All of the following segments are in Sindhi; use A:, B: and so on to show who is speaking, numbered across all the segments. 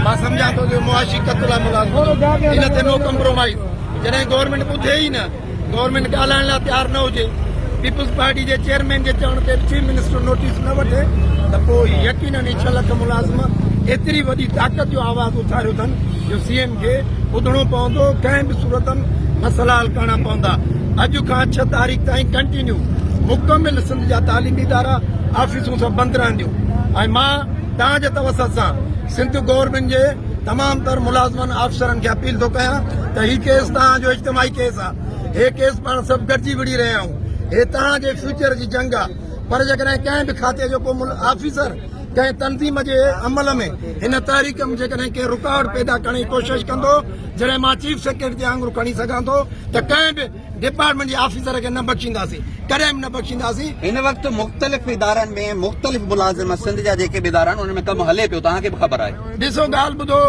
A: مان سمجهان ٿو جو معاشي قتل لاء ملازمت ان تي نو ڪمپرومائيز جڏهن گورنمينٽ ٻڌي ئي نه گورنمينٽ ڳالهائڻ لاء تيار نه هجي پيپلز پارٽي جي چيئرمين جي چوڻ تي چيف منسٽر نوٽيس نه وٺي ته پوء يقينن هي ڇهه لک ملازم ايتري وڏي طاقت جو آواز اٿاريو اٿن جو سي ايم کي ٻڌڻو پوندو ڪنهن به صورت مسئلا حل ڪرڻا پوندا اڄ کان ڇهه تاريخ تائين ڪنٽينيو مڪمل سنڌ جا تعليمي ادارا آفيسون سڀ بند رهنديون ۽ مان توهان جي توسط سان سنڌ گورنمينٽ جي تمام تر ملازمن آفيسرن کي اپيل ٿو ڪيان ته هي ڪيس توهان جو اجتماعي ڪيس آهي هي ڪيس پاڻ سڀ گڏجي وڙهي رهيا آهيون هي توهان جي فيوچر جي جنگ آهي پر جيڪڏهن ڪنهن به کاتي جو ڪو مل آفيسر ڪنهن تنظيم جي عمل ۾ هن تحريڪ ۾ جيڪڏهن ڪنهن رڪاوٽ پيدا ڪرڻ جي ڪوشش ڪندو جڏهن مان چيف سيڪريٽري جي آڱر کڻي سگهان ٿو ته ڪنهن به ڊپارٽمينٽ جي آفيسر کي نه بخشينداسين ڪڏهن به نه بخشينداسين. هن وقت مختلف
B: ادارن ۾ مختلف ملازم سنڌ جا جيڪي به ادارا آهن انهن ۾ ڪم هلي پيو توهان کي به خبر آهي. ڏسو ڳالهه ٻڌو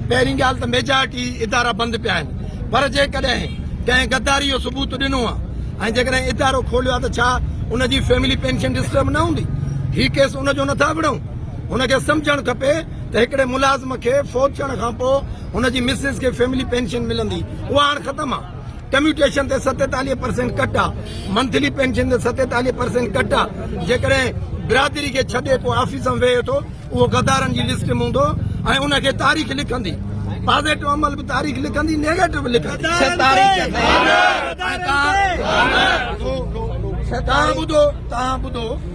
A: پهرين ڳالهه ته ميجارٽي ادارا بند پيا آهن پر جيڪڏهن ڪنهن غداري جو ثبوت ڏنو آهي ۽ جيڪڏهن ادارو کوليو آهي ته ڇا ان جي فيملي پينشن ڊسٽرب نه هوندي هي ڪيس ان جو نٿا وڙهون هن کي سمجهڻ کپي ته هڪڙي ملازم کي فوت ٿيڻ کان پوء هن جي مسز کي فيملي پينشن ملندي اها هاڻ ختم آهي ڪميوٽيشن تي ستيتاليهه پرسينٽ ڪٽ آ، منٿلي پينشن تي ستيتاليهه پرسينٽ ڪٽ آ، جيڪڏهن برادري کي ڇڏي ڪو آفيس ۾ ويهي ٿو اهو غدارن جي لسٽ ۾ هوندو ۽ ان کي تاريخ لکندي، پازيٽو عمل به تاريخ لکندي نيگيٽو به لکندي.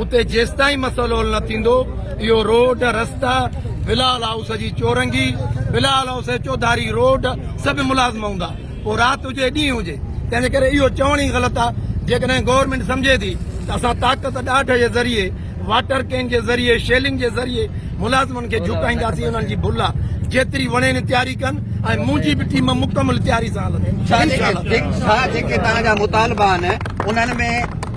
A: اتي جيستائين مسئلو حل نه ٿيندو اهو روڊ رستا بلال هائوس جي چورنگي بلال هائوس چوڌاري روڊ سڀ ملازم هوندا پوء رات هجي ڏينهن هجي تنهنجي ڪري اهو چوڻ ئي غلط آهي جيڪڏهن گورنمنٽ سمجهي ٿي ته اسان طاقت ڏاڍ جي ذريعي واٽر ڪين جي ذريعي شيلنگ جي ذريعي ملازمن کي جھڪائينداسين انهن جي ڀل آهي جيتري وڻين تياري ڪن ۽ منهنجي به ٽيم مڪمل تياري سان هلندي
B: مطالبا آهن انهن ۾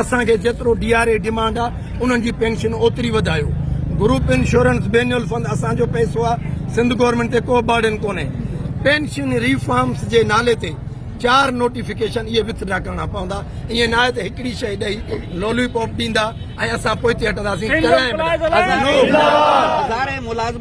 A: اسان کي جيترو ڊي آر اي ڊيمانڊ آ انهن جي پينشن اوتري وڌايو گروپ انشورنس بينيول فند اسان جو پئسو آ سنڌ گورنمينٽ تي ڪو برڊن ڪونهي پينشن ريفارمس جي نالي تي چار نوٽيفڪيشن اهي وٿ ڊرا ڪرڻا پوندا ائين نه آهي ته هڪڙي شيء ڏئي لولي پاپ ڏيندا ۽ اسان پوئتي هٽنداسين ڪڏهن به نه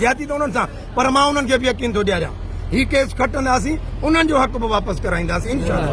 A: زيادتي ته انهن سان پر مان انهن کي به يقين ٿو ڏياريان هي ڪيس کٽنداسين انهن جو حق به واپس ڪرائينداسين انشاءالله.